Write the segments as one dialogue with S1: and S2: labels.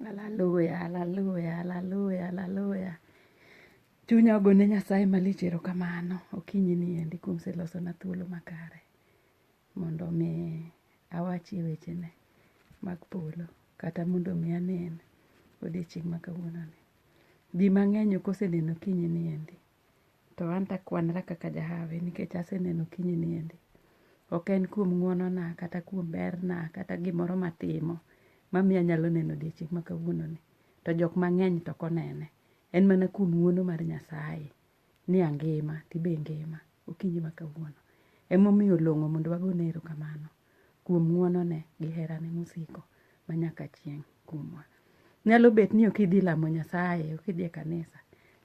S1: Hallelujah, hallelujah, hallelujah, hallelujah. Chunya ogone Nyasaye malich erokamano okinyi ni endi kuom selosona thuolo makare mondo mi awachie wechene mag polo kata mondo mi anen odiechieng' ma kawuononi. Ji mang'eny ok oseneno okinyi ni endi to an to akwanra kaka jahawi nikech aseneno kinyi niendi ok en kuom ng'wonona kata kuom berna kata gimoro matimo mamiyo anyalo neno odiechieng' ma kawuononi to jok mang'eny to ok onene en mana kuom ng'wono mar nyasaye ni angima tibe ingima okinyi ma kawuono emomiyo olong'o mondo wagone erokamano kuom ng'wonone gi herane mosiko ma nyaka chieng' kuomwa. Nyalo bet ni ok idhi lamo Nyasaye, ok idhi e kanisa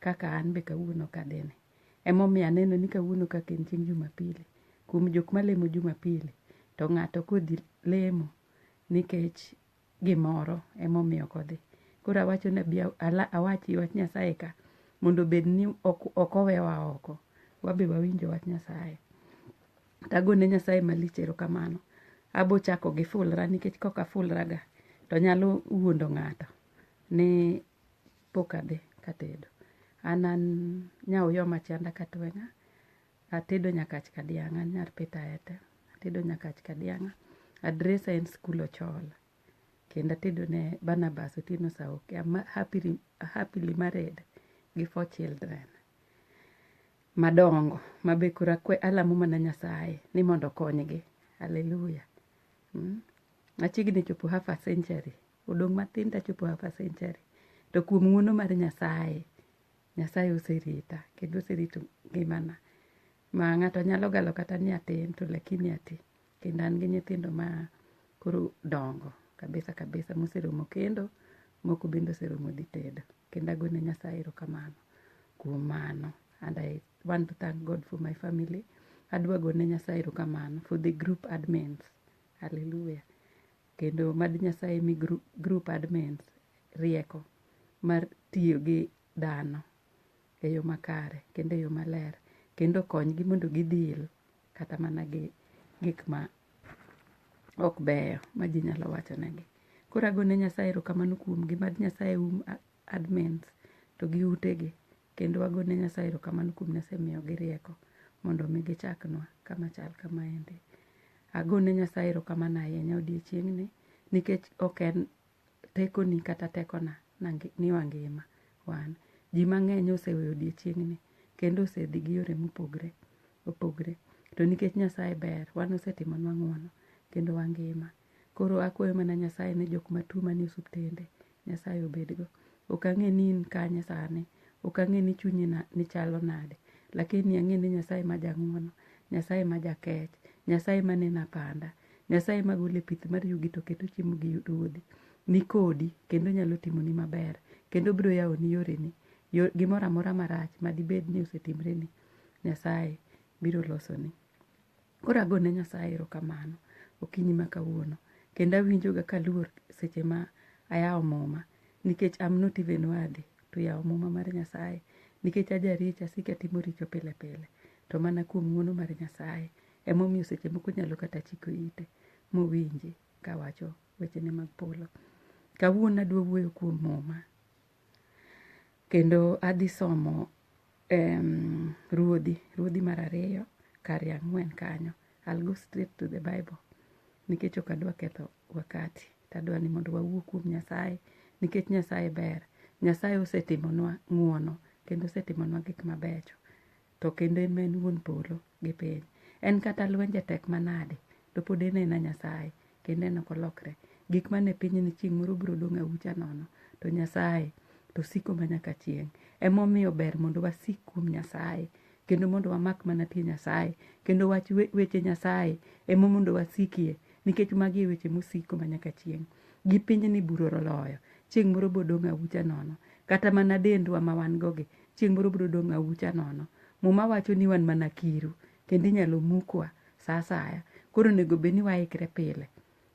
S1: kaka an be kawuono kadhini. Emomiyo aneno ni kawuono kaka en chieng' Jumapili, kuom jok malemo Jumapili to ng'ato kodhi lemo nikech gimoro emomiyo ok odhi. Koro awacho nabi awachi wach Nyasaye ka mondo obed ni ok owewa oko. Wabe wawinjo wach Nyasaye. Tagone Nyasaye malich erokamano. Abo chako gi fulra nikech kok afulra ga to nyalo wuondo ng'ato ni pok adhi katedo. An an Nyaoyoma Chanda Katweng'a. Atedo nyakach kadianga an nyar pita ete atedo nyakach kadianga adresa en skul ochola kendo atedo ne Barnabas Otieno Saoki I'm happily, happily married gi four children madongo mabe koro akwe alamo mana Nyasaye ni mondo okonygi haleluya mm? achiegni chopo half a century odong' matin tachopo half a century to kuom ng'uono mar Nyasaye Nyasaye oserita kendo oserito ngimana ma ng'ato nyalo galo kata ni atin to lakini ati kendo an gi nyithindo ma koro dongo kabisa kabisa moseromo kendo moko bende oseromo dhi tedo kendo agone Nyasaye erokamano kuom mano and I want to thank God for my family adwa gone Nyasaye erokamano for the group admins hallelujah Kendo mad Nyasaye mi group admins rieko mar tiyo gi dhano e yo makare kendo e yo maler kendo konygi mondo gidhil kata mana gi gik ma ok beyo ma ji nyalo wacho negi. Koro agone Nyasaye erokamano kuomgi mad Nyasaye um admins to gi utegi Kendo wagone Nyasaye erokamano kuom Nyasaye miyogi rieko mondo mi gichaknwa kama chal kama endi. Agone Nyasaye erokamano ahinya odiechieng'ni nikech ok en tekoni kata tekona ni wangima wan. Ji mang'eny oseweyo odiechieng'ni kendo osedhi gi yore mopogre opogre. To nikech Nyasaye ber, wan osetimonwa ng'wono kendo wangima. Koro akwayo mana Nyasaye ne jok matuo manie osuptende, Nyasaye obedgo. Ok ang'e ni in kanye sani, ok ang'e ni chunyi ni chalo nade, lakini ang'e ni Nyasaye ma jang'uono, Nyasaye ma jakech, Nyasaye ma neno apanda, Nyasaye ma gole pith mar yugi to keto chiemo gi ruodhi, ni kodi kendo nyalo timoni maber, kendo biro yawoni yoreni, gimoro amora marach madibed ni osetimreni, Nyasaye biro losoni. Koro ago ne Nyasaye erokamano okinyi ma kawuono kendo awinjoga kaluor seche ma ayawo muma nikech I'm not even worthy to yawo muma mar Nyasaye nikech ajaricho asiko atimo richo pile pile to mana kuom ng'uono mar Nyasaye emomiyo seche moko nyalo kata chiko ite mowinji kawacho wechene mag polo. Kawuono adwa wuoyo kuom muma. Kendo adhi somo um, ruodhi ruodhi mar ariyo kar ya ang'wen kanyo I'll go straight to the bible nikech ok adwa ketho wakati tadwa ni mondo wawuo kuom nyasaye nikech nyasaye ber nyasaye osetimonwa ng'uono kendo osetimonwa gik mabecho To kendo en ma en wuon polo gi piny. En kata lwenje tek manade, to pod en ena Nyasaye, kendo en ok olokre. Gik mane pinyni chieng' moro biro dong' aucha nono, to Nyasaye to siko ma nyaka chieng'. Emomiyo ber mondo wasik kuom Nyasaye, kendo mondo wamak mana tie Nyasaye, kendo wach weche Nyasaye emo mondo wasikie, nikech magi e weche mosiko ma nyaka chieng'. Gi pinyni buro oloyo, chieng' moro bodong' aucha nono. Kata mana dendwa ma wan go gi, Chieng' moro biro dong' aucha nono. Muma wacho ni wan mana kiru, kendo inyalo mukwa sa asaya. Koro onego bed ni waikre pile,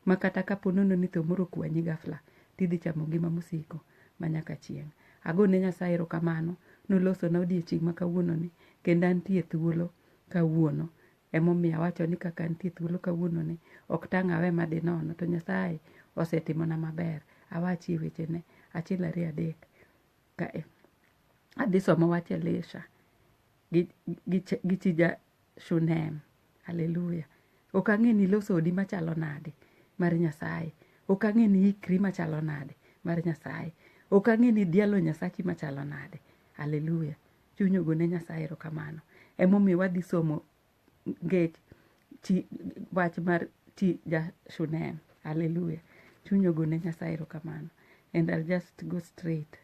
S1: ma kata ka po nono ni tho moro okwanyi gafla, to idhi chamo ngima mosiko ma nyaka chieng'. Ago ne Nyasaye erokamano, nolosona odiechieng' ma kawuononi, kendo antie thuolo kawuono. Emomiyo awacho ni kaka antie thuolo kawuononi, ok tang' awe ma dhi nono, to Nyasaye osetimona maber. Awachie wechene, achiel ariyo adek. kae adhi somo wach elisha gi, gi, ch- gi chija shunem haleluya ok ang'e ni iloso odi machalo nade mar nyasaye ok ang'e ni ikri machalo nade mar nyasaye ok ang'e ni dialo nyasachi machalo nade haleluya chuny ogone nyasaye erokamano emomiyo wadhi somo ngech ti wach mar ti ja shunem hallelujah chuny ogone nyasaye erokamano and I'll just go straight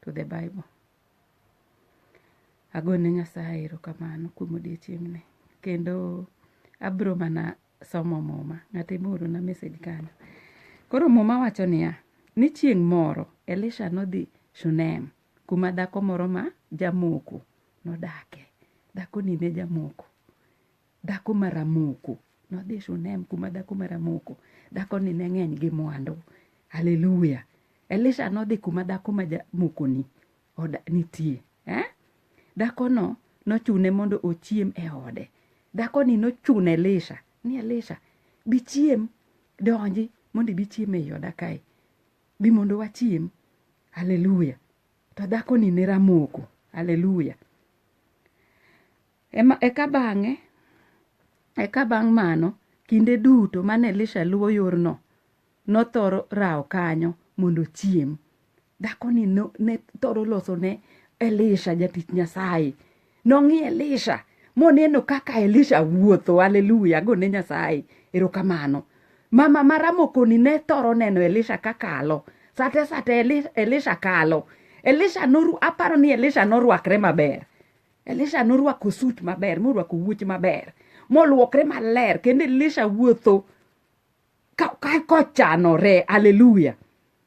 S1: to the bible agone nyasaye erokamano kuom odiochieng'ni kendo abro mana somo muma ng'ato emoorona message kanyo koro muma wacho niya ni chieng' moro elisha nodhi shunem kuma dhako moro ma jamoko nodake. Dhakoni ne jamoko, dhako ma ramoko. Nodhi Shunem kuma dhako ma ramoko. Dhakoni ne ng'eny gi mwandu. Haleluya! Elisha nodhi kuma dhako ma jamokoni oda- nitie. Eh? Dhakono nochune mondo ochiem e ode. Dhakoni nochuno Elisha ni Elisha, bichiem, donji mondo ibi chiem e i oda kae. Bi mondo wachiem. Haleluya. To dhakoni ne ramoko. Haleluya. Ema eka bang'e eka bang' mano kinde duto mane Elisha luwo yorno nothoro rawo kanyo mondo ochiem. Dhakoni no, ne thoro loso ne Elisha jatich Nyasaye Nong'i Elisha moneno kaka Elisha wuotho. Haleluya, gone Nyasaye erokamano. Mama ma Ramokoni ne thoro neno Elisha ka kalo. Sate sate Elisha kalo. Elisha noru, aparo ni Elisha norwakre maber. Elisha norwako sut maber, morwako wuoch maber, molwokre maler, kendo Elisha wuotho kochanore aleluya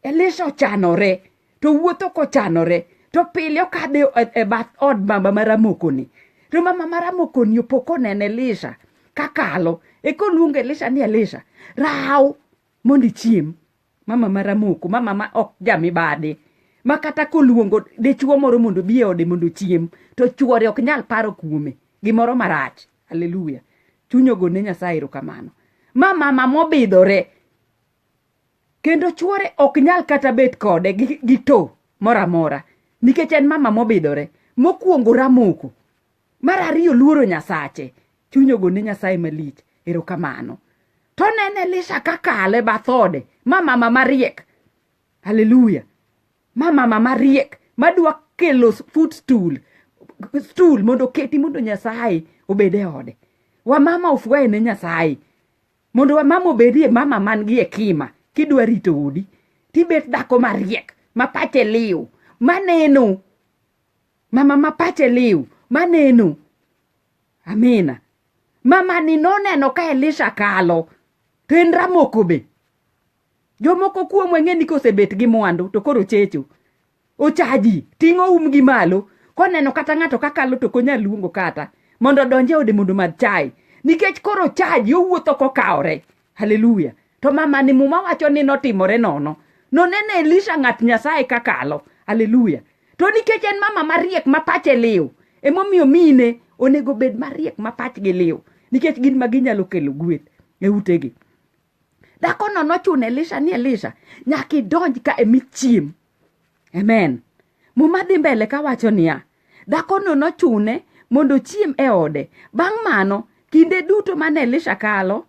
S1: elisha ochanore to wuotho kochanore to pile okadhe e, e bath od mama maramokoni to mama maramokoni opo koneno elisha kakalo ekoluongo elisha ni elisha raw mondo ichiem mama maramoko mama ma ok jamibadhi ma kata koluongo dichuo moro mondo bi e ode mondo ochiem to chuore ok nyal paro kuome gimoro marach Hallelujah. Chuny ogo ne Nyasaye erokamano. Ma mama mobidhore. Kendo chuore ok nyal kata bet kode gi, gi to mora mora. Nikech en mama mobidhore. Mokuongo ramoko. Mar ariyo luoro Nyasache. Chuny ogo ne Nyasaye malich. Erokamano. To nene Elisha kakale bathode. Ma mama mariek. Hallelujah. ma mama mariek madwa kelo food stool stool mondo keti mondo nyasaye obed e ode wamama ofwaye ne nyasaye mondo wamama obedie mama man gi hekima kidwa rito odi tibet dhako mariek ma pache liw maneno mama ma pache liw maneno amina mama ni noneno ka elisha kalo to en ramokobe Jomoko kuomu ang'e ni kosebet gi mwandu to koro checho. Ochaji, ting'o um gi malo. Koneno kata ng'ato kakalo to konyal luongo kata mondo odonj e ode mondo madh chai. Nikech koro ochaji owuotho kokawore. Haleluya. To mamani muma wacho ni notimore nono. Noneno Elisha ng'at Nyasaye kakalo. Haleluya. To nikech en mama mariek ma pache liw, emomiyo mine onego bed mariek ma pachgi liw nikech gin ma ginyalo kelo gweth e utegi. dhakono nochuno elisha ni elisha nyaka idonj ka emi chiem amen muma dhi mbele kawacho niya dhakono nochune mondo ochiem e ode bang' mano kinde duto mane elisha kalo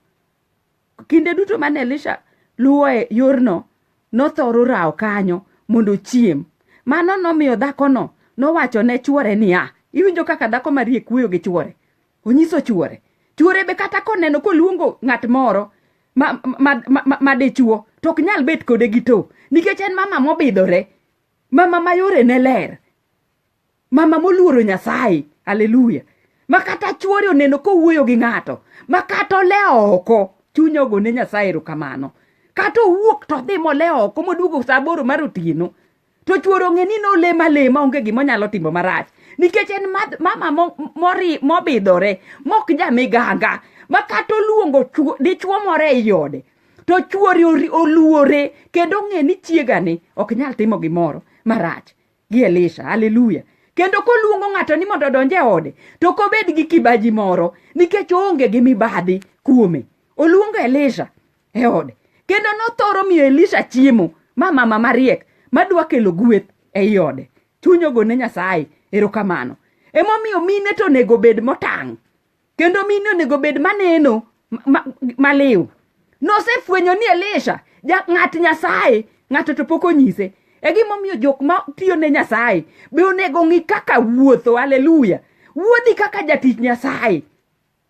S1: kinde duto mane elisha luwo e yorno nothoro rawo kanyo mondo ochiem mano nomiyo dhakono nowacho ne chwore niya iwinjo kaka dhako marie kuyo gi chwore onyiso chuore chuore be kata koneno koluongo ng'at moro ma, ma, ma, ma, ma dichuo to ok nyal bet kode gi to nikech en mama mobidhore mama ma yore ne ler mama moluoro nyasaye aleluya ma kata chuore oneno kowuoyo gi ng'ato ma kata ole oko chuny ogo ne nyasaye erokamano kata owuok to odhi mole oko moduogo sa aboro mar otieno to chuoro ng'e ni nolema lema onge gima onyalo timo marach nikech en mama mori mobidhore mok jamiganga ma kata oluongo dichuo moro e iode to chuori oluore kendo ong'e ni chiegani ok nyal timo gimoro marach gi elisha haleluya kendo koluongo ng'ato ni mondo odonj e ode to kobed gi kibaji moro nikech oonge gi mibadhi kuome oluongo elisha e ode kendo nothoro miyo elisha chiemo ma mama mariek madwa kelo gweth ei ode chuny ogone nyasaye erokamano emomiyo mine to onego bed motang' kendo mine onego bed maneno ma- ma- maliw nosefwenyo ni elisha ja- ng'at nyasaye ng'ato to pok onyise e gimomiyo jok ma tiyo ne nyasaye be onego ng'i kaka wuotho aleluya wuodhi kaka jatich nyasaye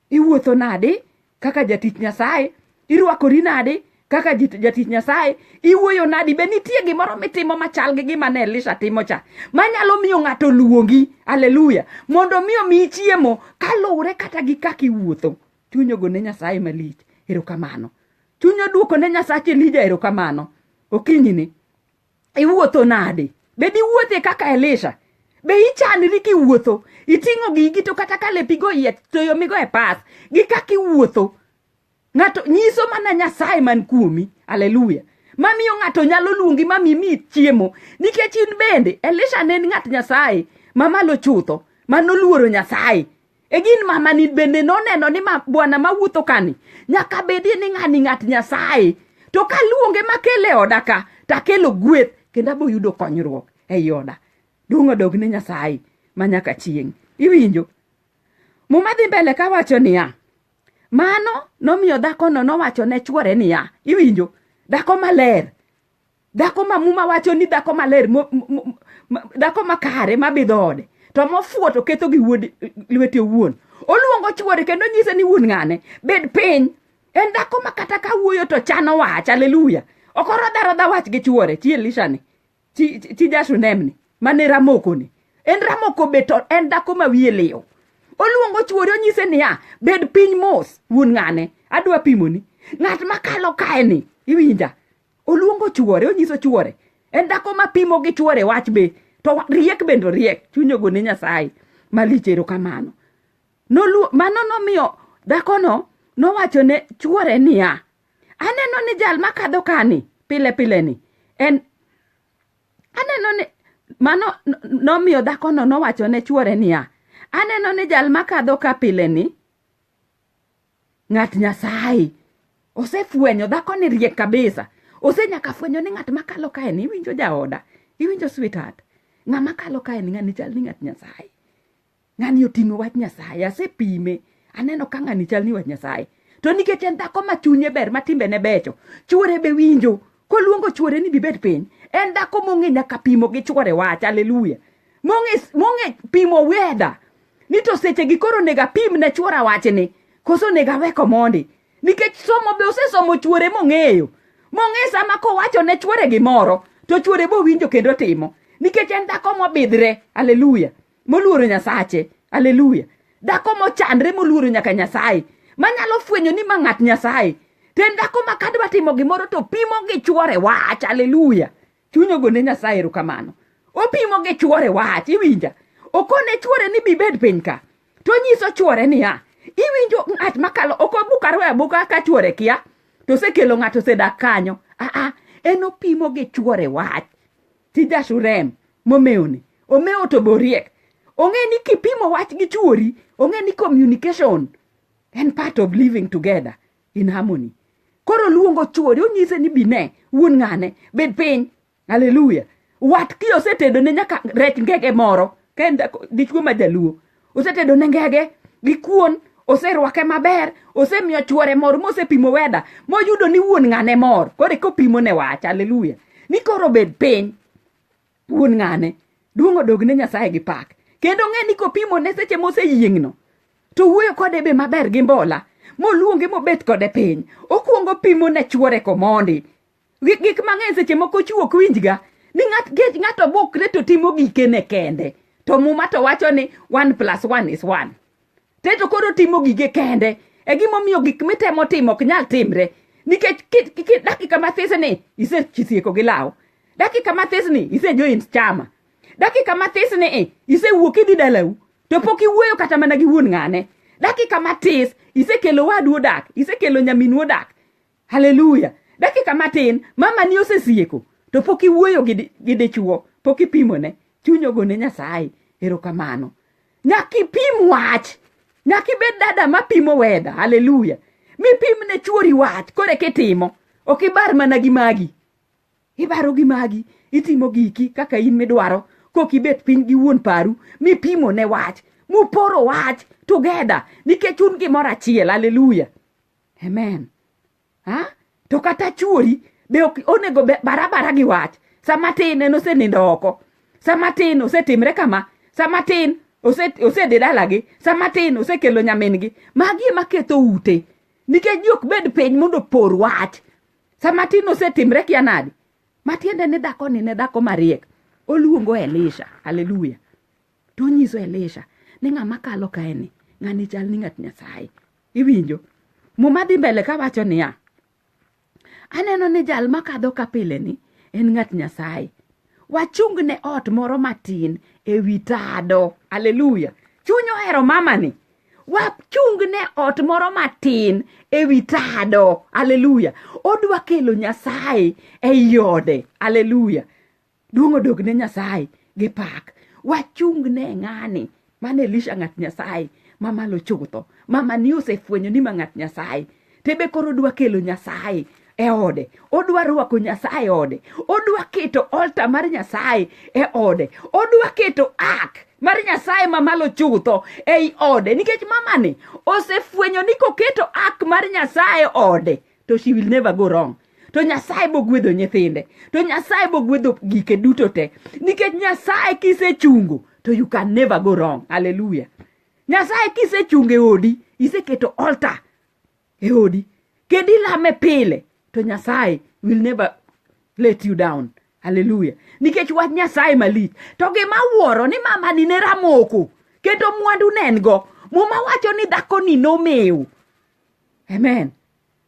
S1: iwuotho nadi kaka jatich nyasaye irwakori nadi kaka jatich nyasaye iwuoyo nadi be nitie gimoro mitimo machal gi gima ne elisha timo cha manyalo miyo ng'ato luongi aleluya mondo mi omiyi chiemo kaluwre kata gi kaka iwuotho chuny ogone nyasaye malich erokamano chuny oduoko ne nyasache elija erokamano okinyini iwuotho nade be diwuothe kaka elisha be ichanri kiwuotho iting'o gigi to kata ka lepigo iye to yomigo e pas gi kaka iwuotho ng'ato nyiso mana nyasaye man kuomi aleluya mamiyo ng'ato nyalo luongi mami mi chiemo nikech in bende elisha ne en ng'at nyasaye mamalo chutho manoluoro nyasaye egin mamani bende noneno ni ma, bwana mawuotho kani nyaka bedie ni ng'ani ng'at nyasaye to kaluonge makele oda ka takelo gweth kendo aboyudo konyruok ei oda duong' odog ne nyasaye ma nyaka chieng' iwinjo muma dhi mbele ka wacho niya mano nomiyo dhakono nowacho ne chwore niya iwinjo dhako maler dhako ma muma wacho ni dhako maler dhako makare mabidho ode to mofuo to ketho gi wuod lwete owuon oluongo chuore kendo nyise ni wuon ng'ane bed piny en dhako ma kata ka wuoyo to chano wach aleluya ok orodharodha wach gi chuore chi elishani chi jashunemni mane ramokoni en ramoko be to en dhako ma wiye liw oluongo chuore onyise niya bed piny mos wuon ng'ane adwa pimoni ng'at makalo kaeni iwinja oluongo chuore onyiso chuore en dhako ma pimo gi chuore wach be to riek bende oriek chuny ogone nyasaye malich erokamano Nolu- mano nomiyo dhakono nowacho ne chuore niya aneno ni jal makadho kani pile pile ni en aneno ni mano n- nomiyo dhakono nowacho ne chuore niya aneno ni jal makadho ka pile ni Ng'at Nyasaye osefwenyo dhako ni riek kabisa. Ose nyaka fwenyo ni ng'at makalo kae ni iwinjo jaoda, iwinjo sweetheart. Ng'ama kalo kae ni ng'ani chal ni ng'at Nyasaye. Ng'ani oting'o wach Nyasaye, asepime. Aneno ka ng'ani chal ni wach Nyasaye. To nikech en dhako ma chunye ber ma timbene becho, chuore be winjo koluongo chuore ni bibed piny en dhako mong'e nyaka pimo gi chuore wach aleluya mong'e pimo weda ni to seche gi koro nega pim ne chuora wachni koso nega weko mondi nikech somo be osesomo chuore mong'eyo mong'e sama kowacho ne chuore gimoro to chuore bowinjo kendo timo nikech en dhako mobidhre aleluya moluoro nyasache aleluya dhako mochandre moluoro nyaka nyasaye manyalo fwenyo ni ma ng'at nyasaye to en dhako ma kadwa timo gimoro to pimo gi chwore wach aleluya chuny ogone nyasaye erokamano opimo gi chwore wach iwinja okone chwore ni bibed piny ka to nyiso chwore niya iwinjo ng'at makalo ok obukaro e abuka ka chwore kia to osekelo ng'ato osedak kanyo aa en opimo gi chwore wach Ti Jashurem momewoni. Omewo to boriek. Ong'e ni kipimo wach gi chuori, ong'e ni communication en part of living together in harmony. Koro luongo chuori onyise ni bine wuon ng'ane bed piny. Hallelujah. Watki osetedo ne nyaka rech ngege moro. Ka en dichuo ma jaluo osetedo ne ngege gi kuon oserwake maber osemiyo chuore mor mosepimo weda moyudo ni wuon ng'ane mor koro kopimo ne wach aleluya ni koro bed piny wuon ng'ane duong' odog ne nyasaye gi pak kendo ng'e ni kopimo ne seche moseyieng'no to wuoyo kode be maber gi mbola moluonge mobet kode piny okuongo pimo ne chuore komondi Gik mang'eny seche moko chiwo ok winjga ni ng'ato bukre to timo gikene kende to muma to wacho ni one plus one is one te to koro timo gige kende e gimomiyo gik mitemo timo ok nyal timre nikech dakika mathis ni isechisieko gi law dakika mathis ni isejoin chama dakika mathis ni eh, isewuok idhi dalau to pok iwuoyo kata mana gi wuon ng'ane dakika matis isekelo wadu odak isekelo nyaminu odak haleluya dakika matin mama ni osesieko to pok iwuoyo gi dichuo pok ipimone chuny ogone nyasaye erokamano nyaka ipim wach nyaka ibed dada mapimo weda haleluya mipim ne chuori wach kore kitimo ok ibar mana gi magi ibaro gi magi itimo giki kaka in midwaro kok ibet piny gi wuon paru mipimo ne wach muporo wach together nikech un gimoro achiel haleluya amen ha to kata chuori be ok onego be barabara gi wach sama tin en osenindo oko sama tin osetimre kama sama tin osedhi dalagi sama tin osekelo nyamin-gi magi ema ketho ute nikech ji ok bed piny mondo opor wach sama tin osetimre kia nadi matiende ni dhako ni ne dhako mariek oluongo elisha haleluya to onyiso elisha ni ng'ama kalo kaeni ng'ani chal ni ng'at nyasaye Iwinjo? Muma dhi mbele ka wacho niya, aneno ni jal makadho ka pile ni en ng'at Nyasaye. Wachung ne ot moro matin e wi tado. Aleluya. Chuny ohero mama ni. Wachung ne ot moro matin e wi tado. Aleluya. Odwa kelo Nyasaye e iode. Aleluya. Duong' odog ne Nyasaye gi pak. Wachung ne ng'ani mane Elisha ng'at Nyasaye ma malo chutho. Mama ni osefwenyo ni ma ng'at Nyasaye. Tebe koro dwa kelo Nyasaye e ode. Odwa rwako Nyasaye e ode. Odwa keto olta mar Nyasaye e ode. Odwa keto ak mar Nyasaye ma malo chutho ei ode. Nikech mamani osefwenyo ni koketo ak mar Nyasaye e ode to she will never go wrong to nyasaye bogwedho nyithinde to nyasaye bogwedho gike duto te nikech nyasaye kisechungo to you can never go wrong haleluya nyasaye kisechungo e odi iseketo altar e odi kendo ilame pile to nyasaye will never let you down haleluya nikech wach nyasaye malich to gima wuoro ni mamani ne ramoko kendo mwandu ne en go muma wacho ni dhakoni nomiw amen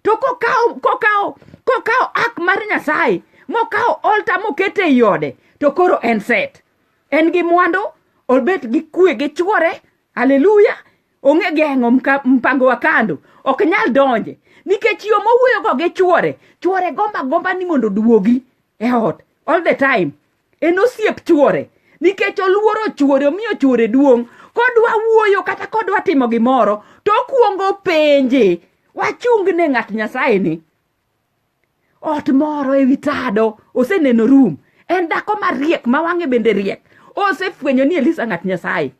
S1: to kokawo kokawo kokawo ak mar nyasaye mokawo olta mokete ei ode to koro en set en gi mwandu obet gi kwe gi chwore haleluya onge geng'o mka- mpango wa kando ok nyal donje nikech yo mowuoyogo gi chwore chwore gomba gomba ni mondo oduogi e ot all the time en osiep chuore nikech oluoro chuore omiyo chuore duong' kodwa wuoyo kata kodwa timo gimoro to okuongo penje wachung ne ng'at nyasaye ni ot moro ewi tado oseneno rum en dhako mariek ma wang'e bende riek osefwenyo ni elisa ng'at nyasaye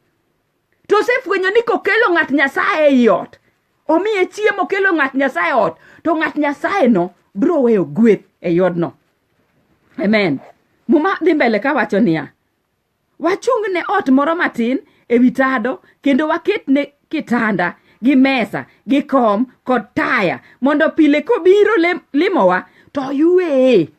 S1: to osefwenyo ni kokelo ng'at nyasaye ei ot omiye chiemo kelo ng'at nyasaye ot to ng'at nyasaye no biro weyo gweth e yodno amen muma dhi mbele ka wacho niya wachung ne ot moro matin e wi tado kendo waket ne kitanda gi mesa gi kom kod taya mondo pile kobiro lem- limowa to yueye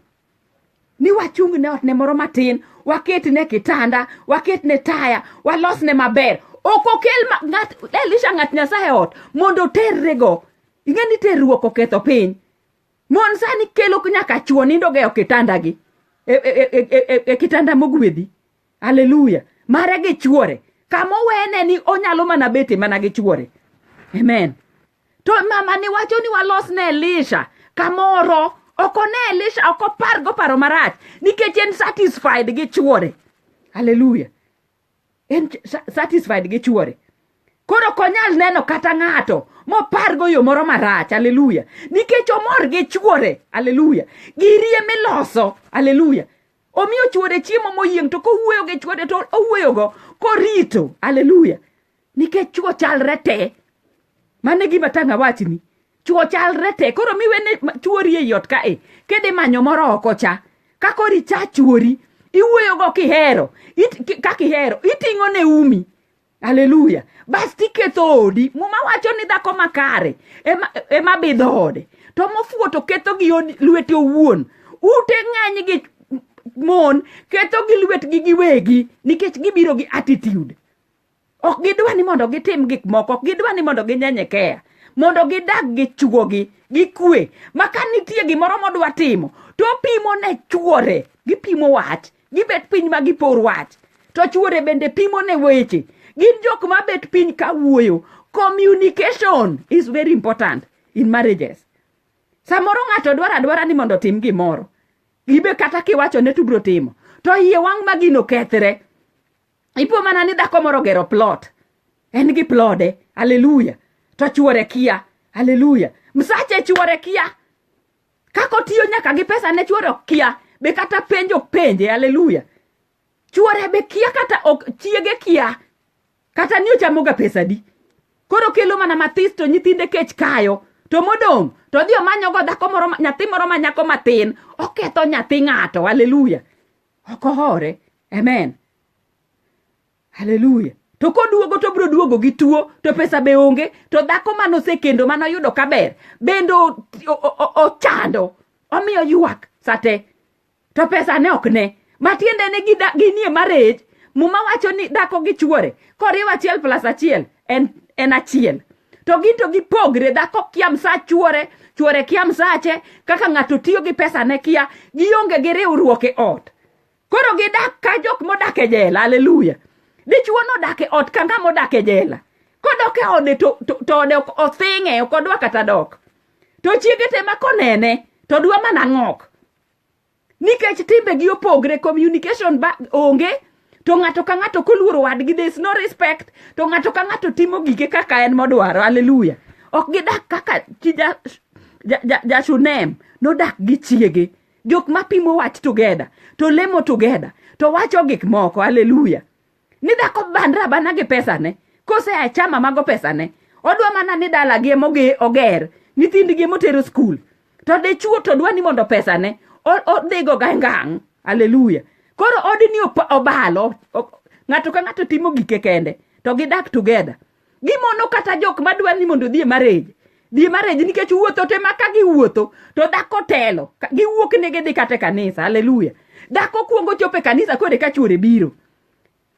S1: ni wachung ne otne moro matin waket ne kitanda waket ne taya walos ne maber ok okel ma- ng'at- elisha ng'at nyasaye ot mondo oterrego ing'e ni terruok oketho piny Mon sani kelo nyaka chwo nindo geyo kitandagi e, e, e, e, e, e kitanda mogwedhi. Haleluya. Mare gi chwore. Kama owene ni onyalo mana bete mana gi chwore. Amen. To mama ni wacho ni walos ne Elisha kamoro ok one Elisha ok opar go paro marach nikech en satisfied gi chwore. Haleluya. en satisfied gi chuore koro ok onyal neno kata ng'ato mopargo yo moro marach aleluya nikech omor gi chuore aleluya girie miloso aleluya omiyo chuore chiemo moyieng' to kowuoyo gi chuore to owuoyogo korito aleluya nikech chuo chalre te mane gima tanga wachni chuo chalre te koro miwene chuori e yot kae kede manyo moro oko cha kakori cha chuori iwuoyogo kihero kakihero iting'o ne umi aleluya bas tiketho odi muma wacho ni dhako makare ema e bidho ode to mofuwo to ketho gi lwete owuon ute ng'eny gi mon ketho gi lwetgi giwegi nikech gibiro gi attitude ok gidwa ni mondo gitim gik moko ok gidwa ni mondo ginyenyekeya mondo gidag gi chuogi gi kwe ma ka nitie gimoro modwa timo to pimo ne chuore gipimo wach gibet piny ma gipor wach to chuore bende pimo ne weche gin jok ma bet piny ka wuoyo communication is very important in marriages samoro ng'ato dwaro adwara ni mondo otim gimoro ibe kata kiwacho ne tubro timo to iye wang' ma gino kethre ipo mana ni dhako moro gero plot en gi plode aleluya to chuore kia aleluya msache chuore kia kako tiyo nyaka gi pesa ne chuore ok kia be kata penjo penje aleluya chuore be kia kata ok chiege kia kata ni ochamoga pesa di koro kelo mana mathis to nyithinde kech kayo to modong' to odhi omanyogo dhako moro nyathi moro ma nyako matin oketho nyathi ng'ato aleluya ok ohore amen haleluya to koduogo to biro duogo gi tuo to pesa be onge to dhako mane osekendo mane oyudo kaber bende o- o- o- ochando omiyo ywak sate to pesa ne ok ne matiende ni gida- ginie marriage muma wacho ni dhako gi chuore koriw achiel plus achiel en, en achiel to gin to gipogre dhako kia msa chuore chuore kia msache kaka ng'ato tiyo gi pesa ne kia gionge gi riwruok e ot koro gidak ka jok modak e jela aleluya dichuo nodak e ot ka ng'ama odak e jela kodok e ode to, to, to ode ok othing'e ok odwa kata dok to chiege te ma konene to dwa mana ng'ok nikech timbegi opogre communication ba onge to ng'ato ka ng'ato koluoro wadgi there is no respect to ng'ato ka ng'ato timo gike kaka en modwaro haleluya ok gidak kaka chi ja, ja, ja, ja shunem nodak gi chiege jok mapimo wach together to lemo together to wacho gik moko haleluya ni dhako bandra bana gi pesane kose achama mago pesane odwa mana ni dalagi emoge oger nyithindgi emotero skul to dichuo to dwa ni mondo pesane odhigo ga ngang' aleluya koro odni obalo ng'ato ka ng'ato timo gike kende to gidak together gimono kata jok madwa ni mondo odhi e marriage dhi e marriage nikech wuotho te ma ka giwuotho to dhako telo Ka- giwuok ne gidhi kata e kanisa haleluya dhako kuongo chopo e kanisa koro eka chuore biro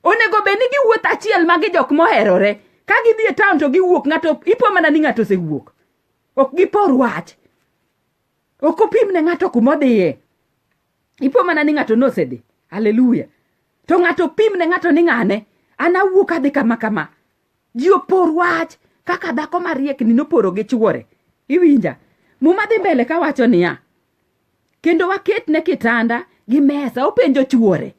S1: onego bed ni giwuotho achiel ma gi jok moherore ka gidhi e town to giwuok ng'ato ipo mana ni ng'ato osewuok ok gipor wach ok opim ne ng'ato kumodhiye ipo mana ni ng'ato nosedhi haleluya to ng'ato pim ne ng'ato ni ng'ane an awuok adhi kama kama ji opor wach kaka dhako mariekni noporo gi chuore iwinja muma dhi mbele ka wacho niya kendo waket ne kitanda gi mesa openjo chuore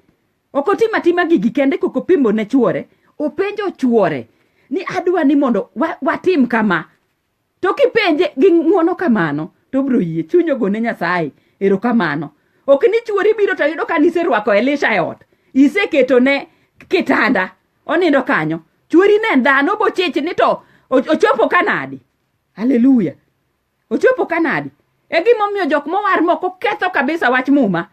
S1: ok otim atima gigi kende kok opimo ne chuore openjo chuore ni adwa ni mondo watim kama to kipenje gi ng'uono kamano to obiro yie chunyo gone nyasaye erokamano ok ni chuori biro to yudo ka niserwako elisha e ot iseketone kitanda onindo kanyo chuori ne en dhano bochich ni to o- ochopo kanadi haleluya ochopo kanadi e gimomiyo jok mowar moko ketho kabisa wach muma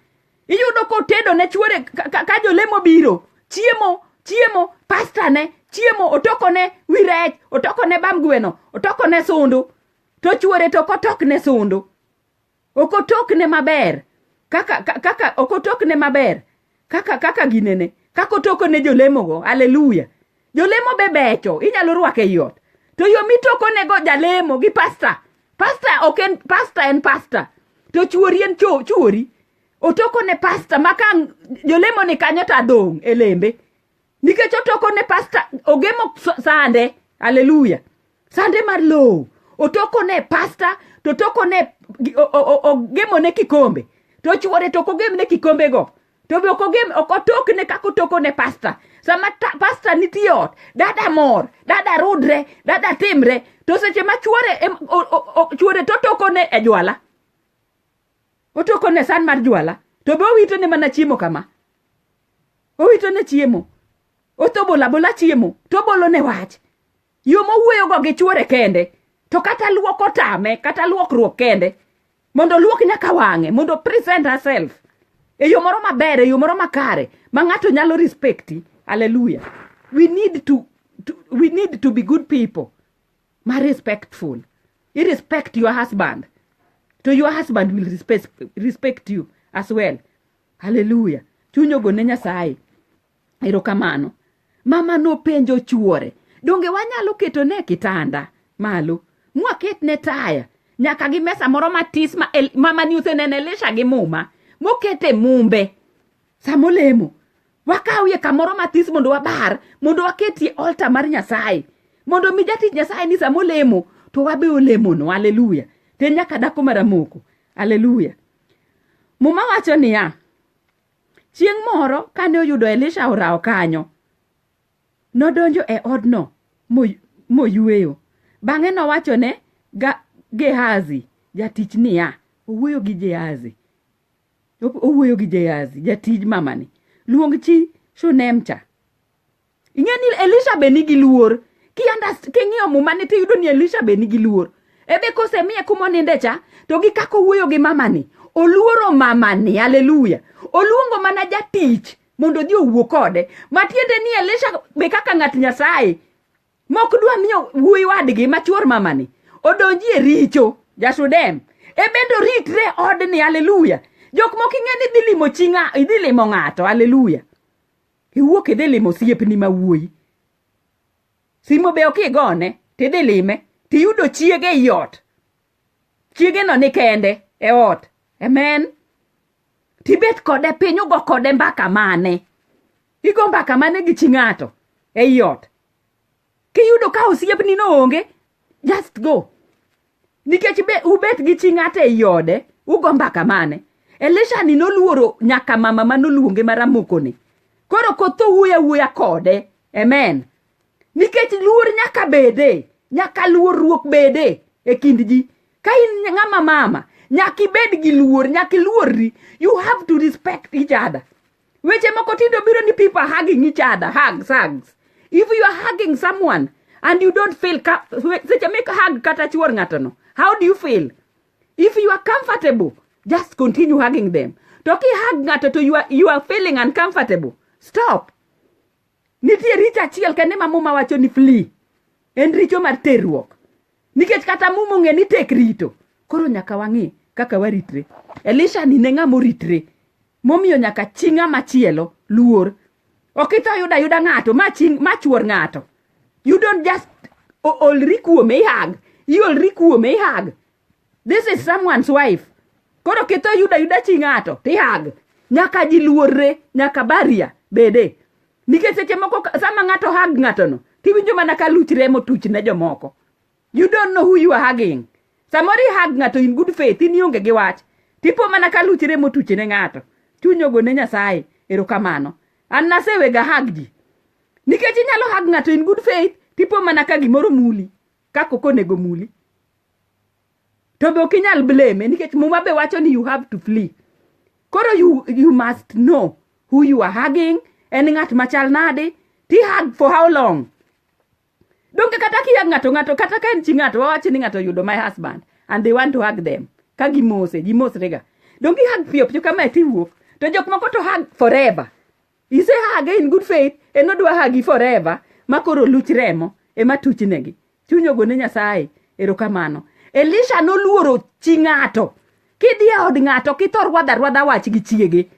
S1: iyudo kotedo ne chuore ka jolemo biro chiemo chiemo pasta ne chiemo otoko ne wi rech otoko ne bam gweno otoko ne sundu to chuore to okotok ne sundu okotok ne maber kaka kaka okotok ne maber kaka kaka ginene kaka otoko ne jolemogo haleluya jolemo be becho inyalo rwako ei ot to yo mitokonego jalemo gi pasta pasta ok en pasta en pasta to chuori en cho- chuori otoko ne pasta ma ka jolemo ni kanyo to adong' e lembe nikech otoko ne pasta ogemo s- sande haleluya sande mar lowo otoko ne pasta to toko ne gi- o- o- o- ogemo ne kikombe to chuore to ok ogem ne kikombego to be ok ogem ok otokne kaka otoko ne pasta sama ta- pasta nitie ot dada mor dada rudre dada timre to seche ma chuore em- o- o- o- chuore to otokone e jwala otokone san mar jwala to be owitone mana chiemo kama owitone chiemo otobolo abola chiemo to obolone wach yo mowuoyogo gi chuore kende to kata luok otame kata luokruok kende mondo oluok nyaka wang'e mondo present herself e yo moro maber e yo moro makare ma ng'ato nyalo respecti haleluya we need to, to, we need to be good people ma respectful you respect your husband to your husband will respect, respect you as well haleluya chuny ogone nyasaye erokamano mama nopenjo chuore donge wanyalo ketone kitanda malo mwaketne taya nyaka gi mesa moro matis ma el, mama ni usenene elisha gi muma mokete mumbe samolemo wakawie kamoro matis mondo wabar mondo waketie olta mar nyasaye mondo mi jatich nyasaye ni samolemo to wabe olemono aleluya to nyaka dako maramoko aleluya muma wacho niya Chieng' moro kane oyudo Elisha orawo kanyo, nodonjo e odno moyueyo. Bang'e nowachone Gehazi jatich niya, owuoyo gi Gehazi, owuoyo gi Gehazi jatij mamani, luong chi Shunem cha. ing'e ni elisha be nigi luor king'iyo mumani tiyudo ni elisha be nigi luor ebe kosemiye kumoninde cha to gi kaka owuoyo gi mamani oluoro mamani aleluya oluongo mana jatich mondo odhi owuo kode matiende ni elisha be kaka ng'at nyasaye mok dwa miyo wuoyi wadgi machuor mamani odonji e richo jasudem ebende oritre odni aleluya jok moko ing'e ni idhi limo chi idhi limo ng'ato aleluya iwuok idhi limo osiepni ma wuoyi simo be ok igone tidhi lime tiyudo chiege ei ot chiegeno ni kende e ot amen tibet kode piny ugo kode mbaka mane igo mbaka mane gi chi ng'ato ei ot Kiyudo ka osiepni no onge, just go. Nikech be ubet gi chi ng'ato ei ode, ugo mbaka mane? Elisha ni noluoro nyaka mama ma noluonge maramokoni. Koro kotho wuoyo awuoya kode. Amen. Nikech luor nyaka bede, nyaka luorruok bede e kind ji. Ka in ng'ama mama, nyaka ibed gi luor, nyaka iluorri. You have to respect each other. weche moko tindo biro ni people are hugging each other hugs hugs if you are hugging someone and you don't feel seche make hug kata chuor ng'ato no how do you feel if you are comfortable just continue hugging them to ki hug ng'ato to you are, you are feeling uncomfortable stop nitie richo achiel kende ma muma wacho ni flee en richo mar terruok nikech kata muma ong'e ni tek rito koro nyaka wang'e kaka waritre elisha ni ne ng'ama oritre momiyo nyaka chi ng'ama chielo luor ok itho yuda yuda ng'ato ma chi ma chuor ng'ato you don't just o- olri kuome ihag iolri kuome ihag this is someone's wife koro kitho yuda yuda chi ng'ato tihag nyaka ji luorre nyaka baria bede nikech seche moko ka- sama ng'ato hag ng'atono tiwinjo mana ka luch remo tuch ne jomoko you don't know who you are hugging samoro ihag ng'ato in good faith in ionge gi wach tipo mana ka luch remo tuche ne ng'ato chuny ogo ne nyasaye erokamano an nasewega hag ji nikech inyalo hag ng'ato in good faith tipo mana ka gimoro muli kaka ok onego muli to be ok inyal blame nikech muma be wacho ni you have to flee koro you, you must know who you are hugging en ng'at machal nade ti hug for how long donge kata kiya ng'ato ng'ato kata ka en chi ng'ato wawachi ni ng'ato oyudo my husband and they want to hug them ka gimose gimosrega donge hug piyo piyo kamae tiwuok to jok moko to hug forever ise hug in good faith en odwa hagi forever ma koro luch remo ema tuchnegi chuny ogone nyasaye erokamano elisha noluoro chi ng'ato kidhi e od ng'ato kithor rwadha rwadha wach gi chiege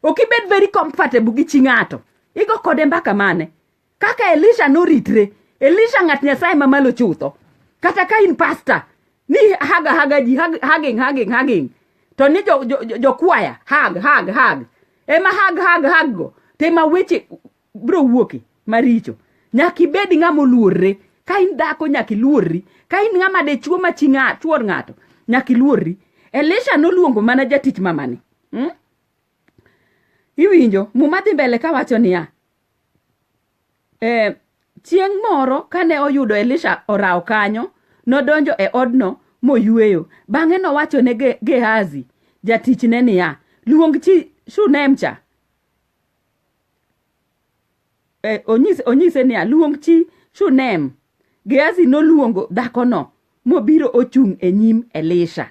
S1: ok ibed very comfortable gi chi ng'ato igo kode mbaka mane kaka elisha noritre elisha ng'at nyasaye mamalo chutho kata ka in pasta ni haga haga ji hag- hugging hugging hugging to ni jokwaya jo, jo, jokwaya, hag hag hag ema hag hag hag go to ema weche bro wuoke maricho nyaka ibed ng'ama oluorre ka in dhako nyaka iluorri ka in ng'ama dichuo ma chi ng'a- chuor ng'ato nyaka iluorri elisha noluongo mana jatich mamani hmm? iwinjo muma dhi mbele kawacho niya E, chieng' moro kane oyudo Elisha orawo kanyo, nodonjo e odno moyueyo. Bang'e nowacho ne Ge- Gehazi jatichne niya, luong chi Shunem cha. E, onyise, onyise niya, luong chi Shunem. Gehazi noluongo dhakono mobiro ochung' e nyim Elisha.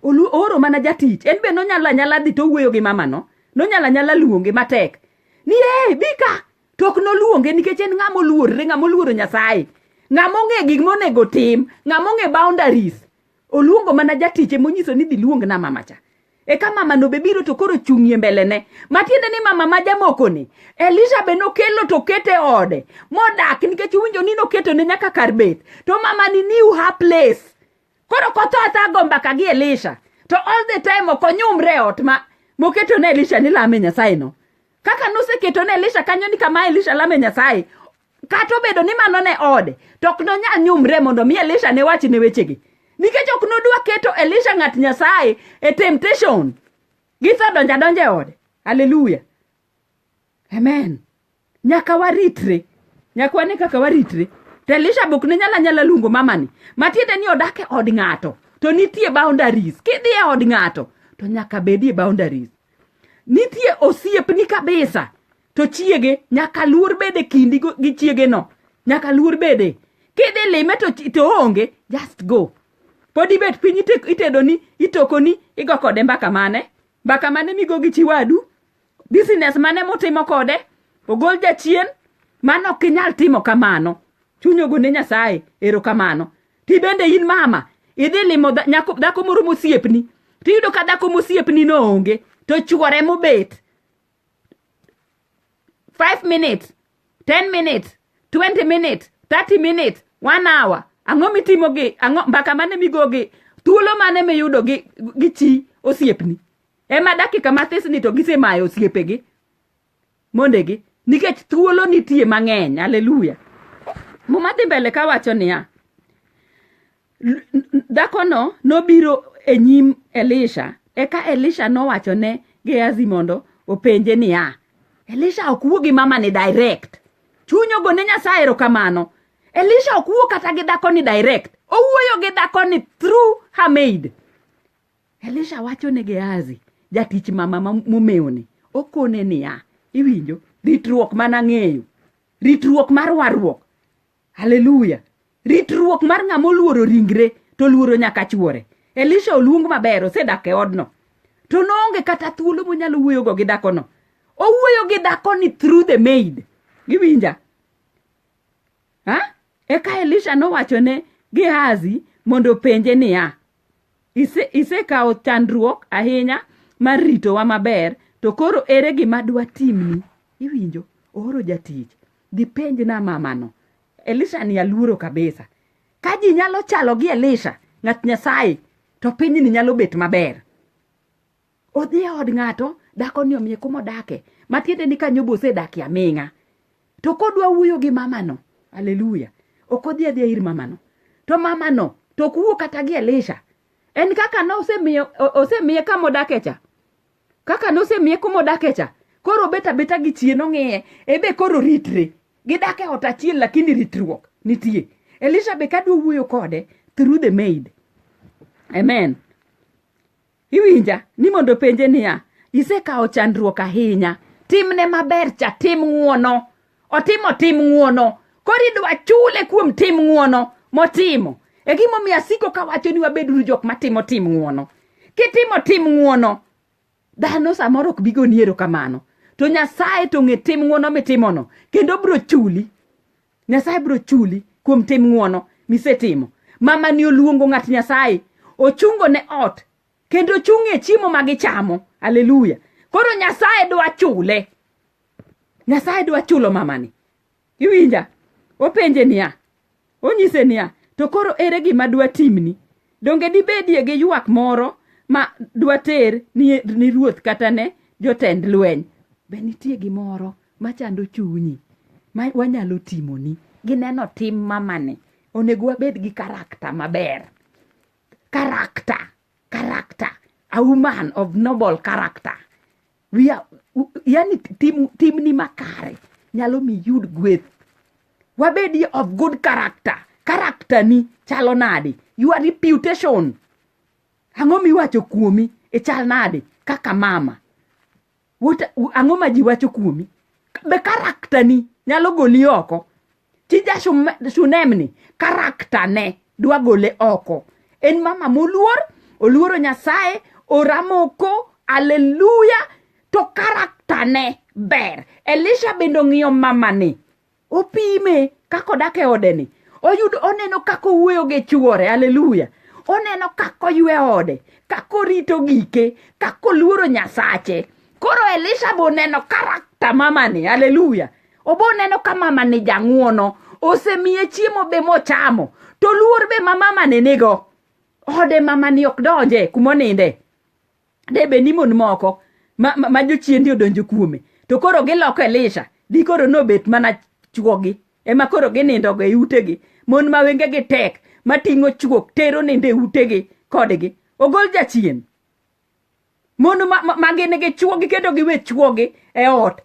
S1: Olu oro mana jatich. En be nonyalo anyala dhi to wuoyo gi mamano. Nonyalo anyala luonge matek. Ni ee, bi ka. To ok noluonge nikech en ng'ama oluorre, ng'ama oluoro Nyasaye. Ng'ama ong'e gik monego tim, ng'ama ong'e boundaries. Oluongo mana jatiche monyiso ni dhi luong na mama cha. eka mama no be biro to koro chung'ie mbelene matiende ni mama ma jamokoni elisha be nokelo to kete ode modak nikech uwinjo ni noketo ne nyaka kar bet to mama ni new her place koro kotho atha go mbaka gi elisha to all the time ok onyumre ot ma moketo ne elisha ni lame nyasaye no kaka noseketo ne elisha kanyo ni kama elisha lame nyasaye kata obedo ni mano ne ode to ok nonyal nyumre mondo mi elisha ne wach ne wechegi nikech ok nodwa keto elisha ng'at nyasaye e temptation gisedonjo adonja e ode aleluya amen nyaka waritre nyaka wane kaka waritre to elisha bok ne nyala nyala luongo mamani matiende ni odak e od ng'ato to nitie boundaries kidhi e od ng'ato to nyaka bedie boundaries nitie osiepni kabisa to chiege nyaka luor bede kindi gi chiege no nyaka luor bede kidhi lime to, to onge just go pod ibet piny itedoni itokoni igo kode mbaka mane mbaka mane migo gi chiwadu business mane mutimo kode ogol jachien mano ok inyal timo kamano chuny ogone nyasaye ero kamano ti bende in mama idhi limo dhako moro mosiepni tiyudo ka dhako mosiepni no onge to chuore mobet 5 minutes 10 minutes 20 minutes 30 minutes 1 hour ang'o mitimo gi ang'o mbaka mane migo gi thuolo mane miyudo gi gi chi osiepni ema dakika mathis ni to gisemayo osiepegi mondegi nikech thuolo nitie mang'eny aleluya muma dhi mbele kawacho niya Dhakono nobiro e nyim Elisha, eka Elisha nowachone Gehazi mondo openje niya, Elisha ok wuo gi mamani direct. Chuny ogone Nyasaye erokamano. Elisha ok wuo kata gi dhakoni direct. Owuoyo gi dhakoni through her maid. Elisha wacho ne Gehazi, jatich mama momewoni, okone niya, iwinjo, ritruok mana ng'eyo, ritruok mar warruok haleluya ritruok mar ng'ama oluoro ringre to oluoro nyaka chuore elisha oluong maber osedak e odno to noonge kata thuolo monyalo wuoyogo gi dhakono owuoyo gi dhakoni through the maid iwinja ha eka elisha nowachone gehazi mondo openje niya "Ise- isekawo chandruok ahinya mar ritowa maber to koro ere gima dwatimni iwinjo ooro jatich Gipenj na mamano. Elisha ni aluoro kabisa. Ka ji nyalo chalo gi Elisha, ng'at Nyasaye, to piny ni nyalo bet maber. Odhi e od ng'ato, dako ni omiye kuma odake. Matiende ni kanyo bosedaki aming'a. To kodwa wuoyo gi mamano, haleluya, ok odhi adhiya ir mamano. To mamano, to ok wuo kata gi Elisha. En kaka ne osemiye, osemiye kama odake cha. kaka nosemiye kumodake cha koro obet abeta gi chien ong'iye ebe koro ritre gidak e ot achiel lakini ritruok nitie elisha be kadwa wuoyo kode through the maid amen iwinja ni mondo penje niya isekawo chandruok ahinya timne maber cha tim ng'uono otimo tim ng'uono koro idwa chule kuom tim ng'uono motimo e gimomiyo asiko kawacho ni wabeduru jok matimo tim ng'uono kitimo tim ng'uono dhano samoro ok bigo ni erokamano to nyasaye to ng'e tim ng'uono mitimono kendo bro chuli nyasaye bro chuli kuom tim ng'uono misetimo mama ni oluongo ng'at nyasaye ochungo ne ot kendo ochung' e chiemo ma gichamo aleluya koro nyasaye dwa chule nyasaye dwa chulo mamani iwinja openje niya onyise niya to koro ere gima dwa timni donge dibedie gi ywak moro ma dwa ter ni, ni ruoth kata ne jotend lweny be nitie gimoro machando chunyi ma wanyalo timoni gineno tim mamani onego wabed gi karakta maber karakta karakta a woman of noble character we are, yani tim, timni makare nyalo mi yud gweth wabedi of good character character ni chalo nade your reputation ang'o miwacho kuomi e chal nade kaka mama ang'o ma ji wacho kuomi be character ni nyalo goli oko tija shunemni karakta ne dwa gole oko en mama moluor oluoro nyasaye oramoko aleluya to karakta ne ber elisha bende ong'iyo mamani opime kaka odak e odeni oyudo oneno kaka owuoyo gi chuore aleluya oneno kaka oywe ode kaka orito gike kaka oluoro nyasache koro elisha be oneno karakta mamani aleluya obo neno ka mama ni jang'uono osemiye chiemo be mochamo to luor be ma mama ne nigo ode mama ni ok donje kumoninde de be ni mon moko ma, ma, ma jochiendi odonjo kuome to koro giloko elisha di koro nobet mana chuogi ema koro ginindogo e utegi mon ma wengegi tek mating'o chuok tero nindo e utegi kodgi ogol jachien mon ma gin gi chuogi kendo giwe chuogi e ot